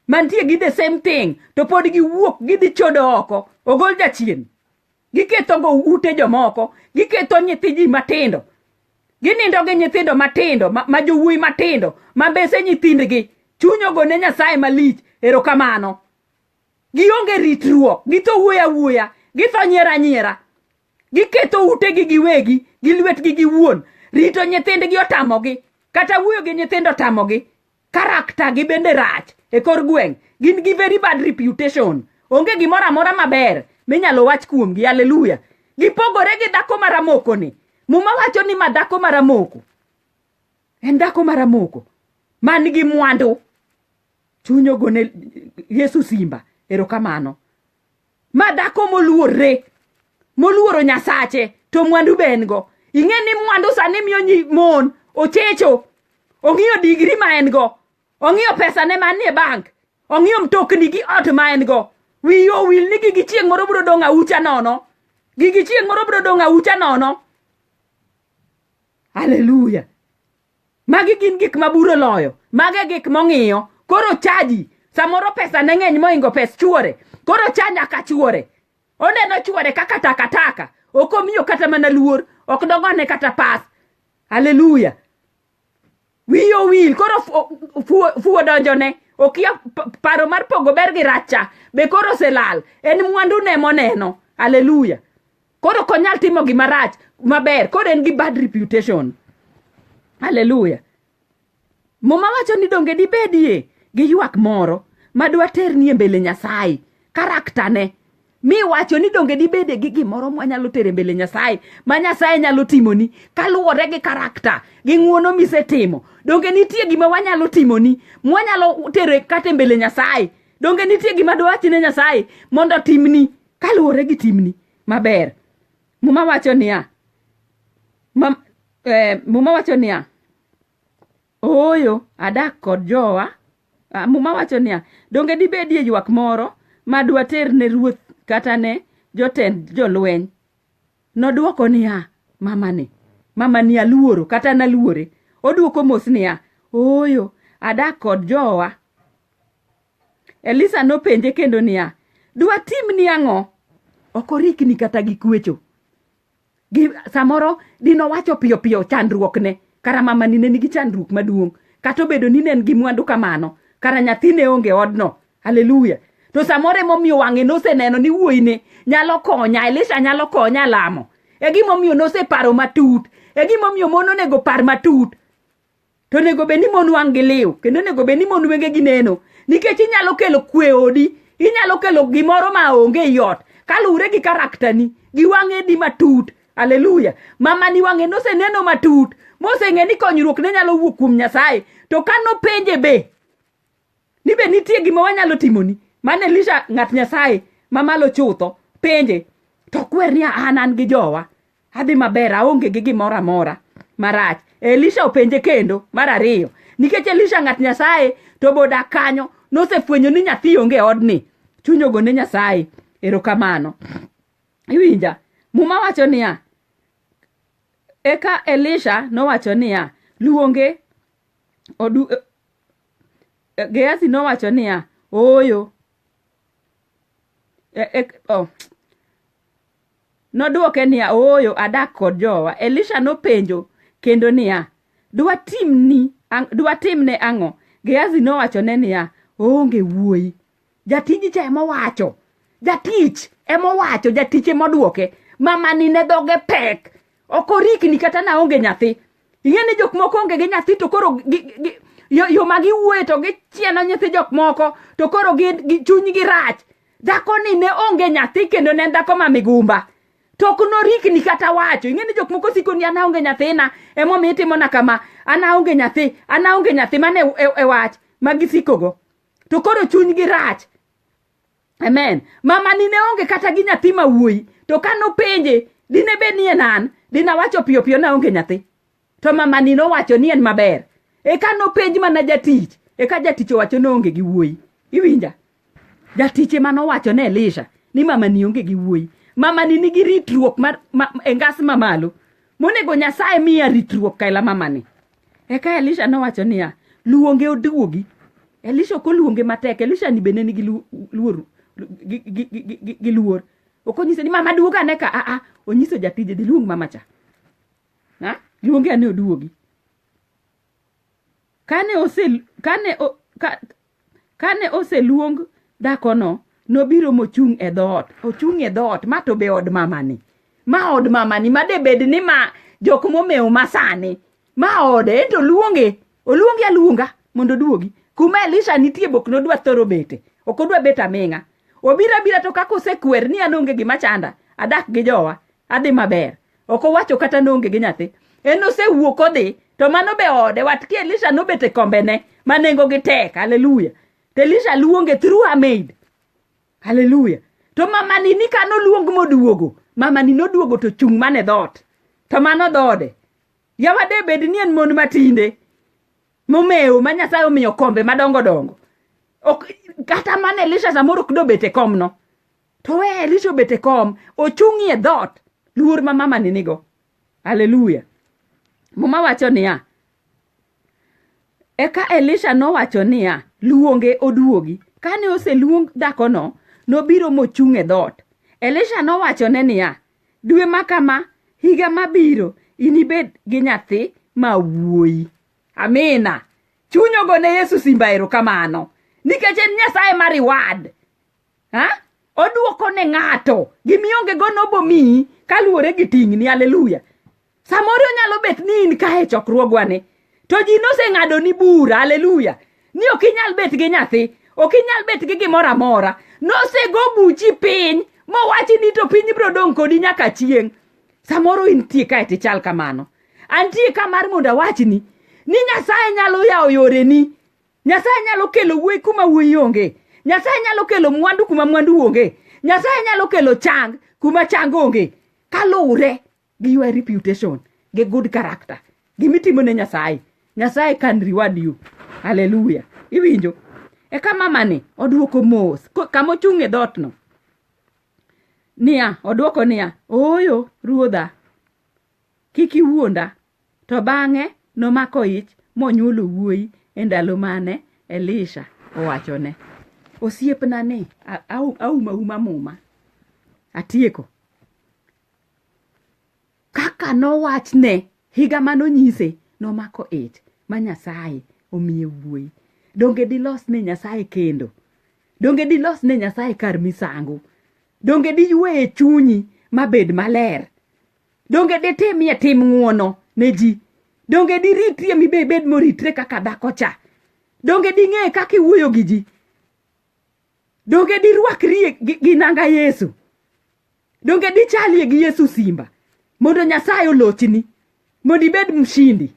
S1: mantie gi the same thing to pod giwuok gidhi chodo oko ogol jachien giketho go ute jomoko giketho nyithi ji matindo ginindo gi nyithindo matindo ma jowuoyi matindo ma mbese nyithindgi chunyogo ne nyasaye malich erokamano gionge ritruok githo wuoya wuoya githo nyiera nyiera giketo utegi giwegi gi lwetgi giwuon rito nyithindgi otamogi kata wuoyo gi nyithindo otamogi karakta gi bende rach e kor gweng' gin gi very bad reputation onge gimoro amora maber minyalo wach kuomgi aleluya gipogore gi dhako maramoko ni muma wacho ni ma dhako maramoko en dhako maramoko man gi mwandu chuny ogone yesu simba erokamano ma dhako moluorre moluoro nyasache to mwandu be en go ing'e ni mwandu sani miyo nyi mon ochecho ong'iyo digri ma en go ong'iyo pesane manie bank ong'iyo mtokni gi ot ma en go wiye owil ni gigi chieng' moro biro dong' aucha nono gigi chieng' moro biro dong' aucha nono haleluya magi gin gik ma buro loyo mage gik mong'iyo koro chaji samoro pesa ne ng'eny moingo pes chuore koro cha nyaka chuore oneno chuore kaka takataka ok omiyo kata mana luor ok dogone kata pas haleluya wiye owil koro fuwo donjone okia paro mar pogo ber gi racha be koro oselal en mwandu ne moneno haleluya koro ok onyal timo gima rach maber koro en gi bad reputation haleluya muma wacho ni donge dibedie gi ywak moro madwa ternie mbele nyasaye karaktane mi wacho ni donge dibede gi gimoro mwanyalo tere mbele nyasaye ma nyasaye nyalo timoni kaluwore gi karakta gi ng'uono misetimo donge nitie gima wanyalo timoni mwanyalo tere kate mbele nyasaye donge nitie gima dwachine nyasaye mondo timni Kaluwore gi timni maber, Muma wacho niya, ma, eh, Muma wacho niya, ooyo adak kod jowa. Ah, Muma wacho niya, donge dibedie ywak moro ma dwater ne ruoth kata ne jotend jolweny? Nodwoko niya, mamani, mamani aluoro kata naluore. Odwoko mos niya, ooyo adak kod jowa. Elisa nopenje kendo niya, dwatimni ang'o? Ok orikni kata gi kwecho. Gi, samoro dino wacho piyo piyo chandruokne, kara mamani ne nigi chandruok maduong', kata obedo ni ne en gi mwandu kamano, kara nyathine onge odno. Haleluya! To samoro emomiyo wang'e noseneno ni wuoyine nyalo konya, Elisha nyalo konya lamo. E gimomiyo noseparo matut, e gimomiyo mon onego par matut. to onego bed ni mon wang' gi liw kendo onego bed ni mon wenge gi neno nikech inyalo kelo kwe odi inyalo kelo gimoro ma onge ei ot kaluwre gi karaktani gi wang'e di matut aleluya mamani wang'e noseneno matut moseng'e ni konyruok ne nyalo wuok kuom nyasaye to ka nopenje be ni be nitie gima wanyalo timoni mane elisha ng'at nyasaye mamalo chutho penje to kwer ni an an gi jowa adhi maber aonge gi gimoro amora marach elisha openje kendo mar ariyo nikech elisha ng'at nyasaye to boda kanyo nosefwenyo ni nyathi onge odni chuny ogone nyasaye erokamano iwinja muma wacho niya eka elisha nowacho niya luonge odu, Gehazi nowacho niya, Ooyo. E, e, oh. Nodwoke niya, Ooyo, adak kod jowa. Elisha nopenjo kendo niya, Dwatimni, ang- dwatimne ang'o? Gehazi nowachone niya, Oonge wuoyi. Jatiji cha ema owacho. Jatich ema owacho, jatich ema oduoke. Mamani ne dhoge pek. Ok orikni kata na onge nyathi. Ing'e ni jok moko onge gi nyathi to koro gi, gi, yo, yo ma giwuoye to gichieno nyithi jok moko to koro gi, gi, chunygi rach. Dhakoni ne onge nyathi kendo ne en dhako ma migumba. To ok norikni kata wacho. Ing'e ni jok moko siko ni an aonge nyathina, emomiyo itimona kama. An aonge nyathi, an aonge nyathi. Mano e, e, e wach ma gisikogo. to koro chunygi rach amen mama ni ne onge kata gi nyathi ma wuoyi to ka nopenje dine bed ni en an dinawacho piyo piyo na onge nyathi to mama ni nowacho ni en maber eka nopenj mana jatich eka jatich owacho ni onge gi wuoyi iwinja jatich ema nowacho ne elisha ni mama ni onge gi wuoyi mama ni nigi ritruok mar ma, e ngas mamalo monego nyasaye miya ritruok kaila mama ni Eka Elisha nowacho niya, luonge oduogi. Elisha ok oluonge matek, Elisha ni bende nigi lu- luor gi- gi- gi- gi- gi- gi luor. Ok onyise ni mama duog ane ka, aa, onyiso jatije dhi luong mama cha. Ha? Luonge ane oduogi. Kane ose kane o, ka, Kane oseluong dhakono, nobiro mochung' e dhoot. Ochung' e dhoot, ma to be od mamani. Ma od mamani, ma de bed ni ma jok momewo ma sani. Ma ode, ento oluonge. Oluonge aluonga mondo oduogi. Kuma Elisha nitie bok nodwa thoro bete. Ok odwa bet aming'a. Obiro abira to kaka osekwer ni an onge gima chanda, adak gi jowa, adhi maber. ok owacho kata noonge gi nyathi en osewuok odhi to mano be ode wat ki elisha nobet e kombene ma nengogi tek haleluya to elisha luonge through her maid haleluya to mamani ni ka noluong moduogo mamani noduogo to chung' mane dhoot to mano dhoode yawa de bed ni en mon matinde momewo ma nyasaye omiyo kombe madongo dongo ok kata mana elisha samoro ok dobet e komno To we Elisha obet e kom, ochung'ie dhoot, luor ma mama ni nigo. Haleluya. Muma wacho niya, Eka Elisha nowacho niya, luonge oduogi. Kane oseluong dhakono, nobiro mochung' e dhoot. Elisha nowachone niya, dwe ma kama, higa mabiro, inibed gi nyathi ma wuoyi. Amina. Chuny ogone Yesu simba erokamano. Nikech en Nyasaye ma reward. ha? odwoko ne ng'ato gimionge go nobomiyi kaluwore gi ting'ni aleluya samoro onyalo bet ni in kae chokruogwani to ji noseng'ado ni bura aleluya ni ok inyal bet gi nyathi ok inyal bet gi gimoro amora nosego buchi piny mowachi ni to piny biro dong' kodi nyaka chieng' samoro intie kae tichal kamano antie ka mar mondo awachni ni nyasaye nyalo yawo yoreni Nyasaye nyalo kelo wuoyi kuma wuoyi onge. Nyasaye nyalo kelo mwandu kuma mwandu onge. Nyasaye nyalo kelo chang kuma chang onge. Kaluwre gi your reputation, gi good character, gimitimo ne Nyasaye. Nyasaye can reward you. Hallelujah. Iwinjo? Eka mamani odwoko mos ko- kama ochung' e dhootno. Niya, odwoko niya, ooyo ruodha, Kik iwuonda. To bang'e nomako ich monyuolo wuoyi e ndalo mane Elisha owachone. Osiepna ni auma uma muma. Atieko. Kaka nowachne higa mane onyise nomako ich ma Nyasaye omiye wuoyi. Donge dilos ne Nyasaye kendo? Donge dilos ne Nyasaye kar misango? Donge diywe e chunyi mabed maler? Donge ditimie tim ng'uono ne ji? Donge diritrie mibe ibed moritre kaka dhako cha? Donge ding'e kaka iwuoyo gi ji? Donge dirwakrie gi, gi nanga Yesu? Donge dichalie gi Yesu simba? Mondo Nyasaye olochni, mondo ibed mshindi.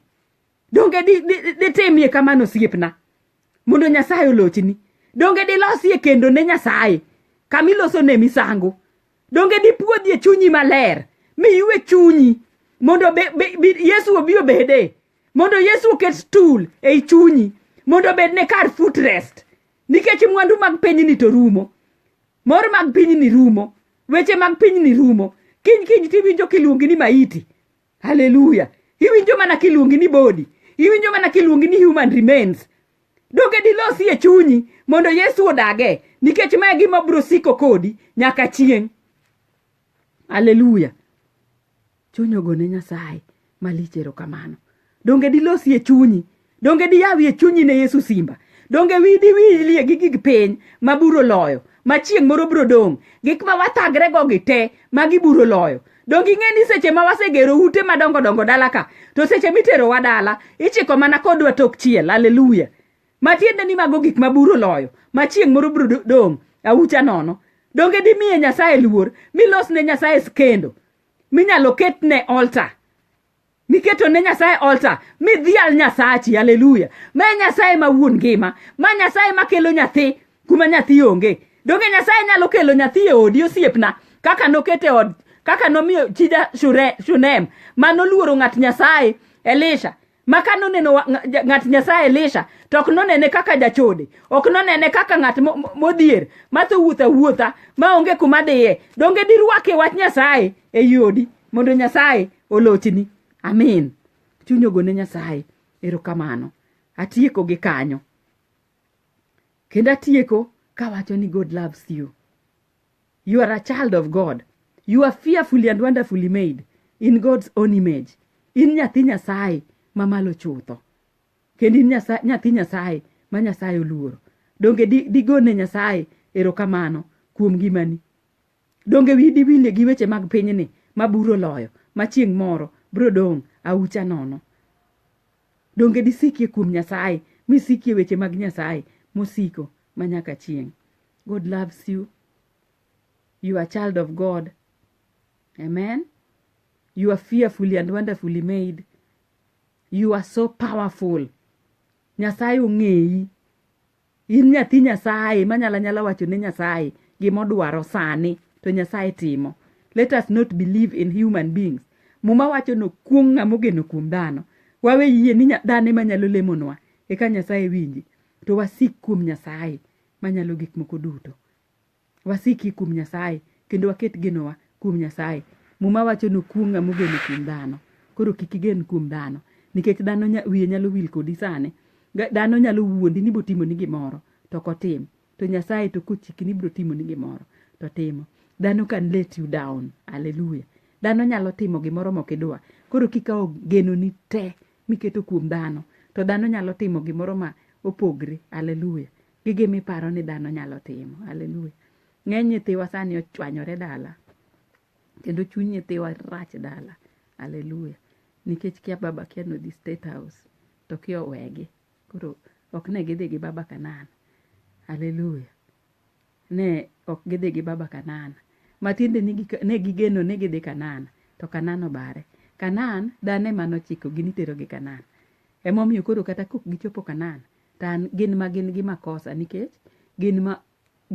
S1: donge ditimie di, di kamano osiepna mondo nyasaye olochni donge dilosie kendo ne nyasaye kama iloso ne misango donge dipuodhie chunyi maler mi iwe chunyi mondo be, be, be, yesu obi obede mondo yesu oket stul ei chunyi mondo obed ne kar foot rest nikech mwandu mag pinyni to rumo mor mag pinyni rumo weche mag pinyni rumo kiny kiny tiwinjo kiluongi ni maiti haleluya iwinjo mana kiluongi ni body iwinjo mana kiluongi ni human remains donge dilosi e chunyi mondo yesu odage nikech mae gima biro siko kodi nyaka chieng' haleluya chuny ogone nyasaye malich erokamano donge dilosi e chunyi Donge diyawi e chunyi ne Yesu simba? Donge widi wilie gi gig piny ma buro loyo, ma chieng' moro biro dong', gik ma wathagre go gi te ma giburo loyo? Donge ing'e ni seche ma wasegero ute madongo dongo dala ka, to seche miterowa dala, ichiko mana kodwa tok chiel, haleluya. Matiende ni mago gik ma buro loyo, ma chieng' moro biro do- dong' aucha nono. Donge dimiye Nyasaye luor, milos ne Nyasaye skendo, minyalo ketne altar, miketo ne nyasaye altar midhial nyasachi haleluya ma e nyasaye ma wuon ngima ma nyasaye ma kelo nyathi kuma nyathi onge donge nyasaye nyalo kelo nyathi e odi osiepna kaka nokete od kaka nomiyo chija Shure- shunem ma noluoro ng'at nyasaye elisha ma ka noneno wa- nga- ng'at nyasaye elisha to ok nonene kaka jachode ok nonene kaka ng'at mo- mo- modhier ma thowuotha wuotha ma onge kuma dhiye donge dirwake wach nyasaye e yodi mondo nyasaye olochni amin chuny ogone nyasaye erokamano atieko gi kanyo kendo atieko kawacho ni god loves you you are a child of god you are fearfully and wonderfully made in god's own image in nyathi nyasaye mamalo chutho kendo in nyathi nyasaye ma nyasaye oluoro donge digone nyasaye erokamano kuom ngimani Donge wiyi diwil gi weche mag pinyni ma buru oloyo, ma chieng' moro biro dong' aucha nono? Donge disikie kuom Nyasaye, misikie weche mag Nyasaye mosiko ma nyaka chieng'? God loves you. You are a child of God. Amen. You are fearfully and wonderfully made. You are so powerful. Nyasaye ong'eyi. In nyathi Nyasaye manyala nyala wacho ne Nyasaye gima odwaro sani to Nyasaye timo. Let us not believe in human beings. Muma wacho ni okuong' ng'ama ogeno kuom dhano. Wawe yie ni nya- dhano ema nyalo lemonwa eka Nyasaye winji to wasik kuom Nyasaye manyalo gik moko duto. wasiki kuom Nyasaye kendo waket genowa kuom Nyasaye. Muma wacho nokuong' ng'ama ogeno kuom dhano. Koro kik igen kuom dhano nikech dhano nya, wiye nyalo wil kodi sani. Ga- Dhano nyalo wuondi ni botimoni gimoro to ok otim. To Nyasaye to kochiki ni biro timoni gimoro to timo. Dhano can let you down. Hallelujah. Dhano nyalo timo gimoro mok idwa. Koro kikawo genoni te miketo kuom dhano to dhano nyalo timo gimoro ma opogre. Hallelujah. gi gima iparo ni dhano nyalo timo. Haleluya. Ng'eny nyithiwa sani ochwanyore dala kendo chuny nyithiwa rach dala. Haleluya. Nikech kia baba kia nodhi State House to kia owegi. Koro ok ne gidhi gi baba Kanan. Haleluya. Ne ok gidhi gi baba Kanan. Matiende ni gik- ne gigeno ni gidhi Kanan to Kanan obare. Kanan dhano ema nochikogi niterogi Kanan. Emomiyo koro kata kok gichopo Kanan Tan gin ma gin gi makosa nikech gin ma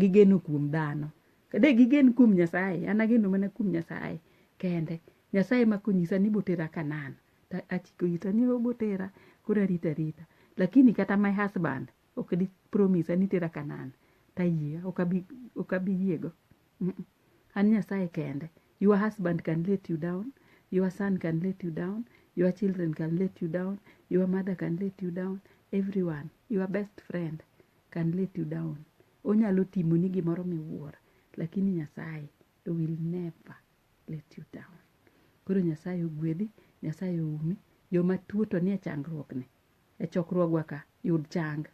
S1: gigeno kuom dhano. Kade gigen kuom Nyasaye, an ageno mana kuom Nyasaye kende. Nyasaye ma konyisa ni botera Kanan, to achiko ita ni obotera, koro arito arita. Lakini kata my husband ok di promise a ni tera Kanan, tayie, ok abi, ok abi yiego. Mm-mm. An Nyasaye kende. Your husband can let you down. Your son can let you down. Your children can let you down. Your mother can let you down. Everyone, your best friend can let you down. Onyalo timoni gimoro miwuoro, lakini Nyasaye will never let you down. Koro Nyasaye ogwedhi, Nyasaye oumi. Joma tuo to nie changruokni. E chokruogwa ka, yud chang.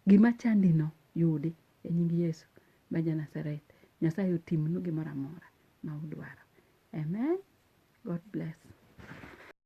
S1: Gima chandino yudi. E nying Yesu ma ja Nazareth, Nyasaye otimnu gimoro amora ma udwaro. Amen. God bless.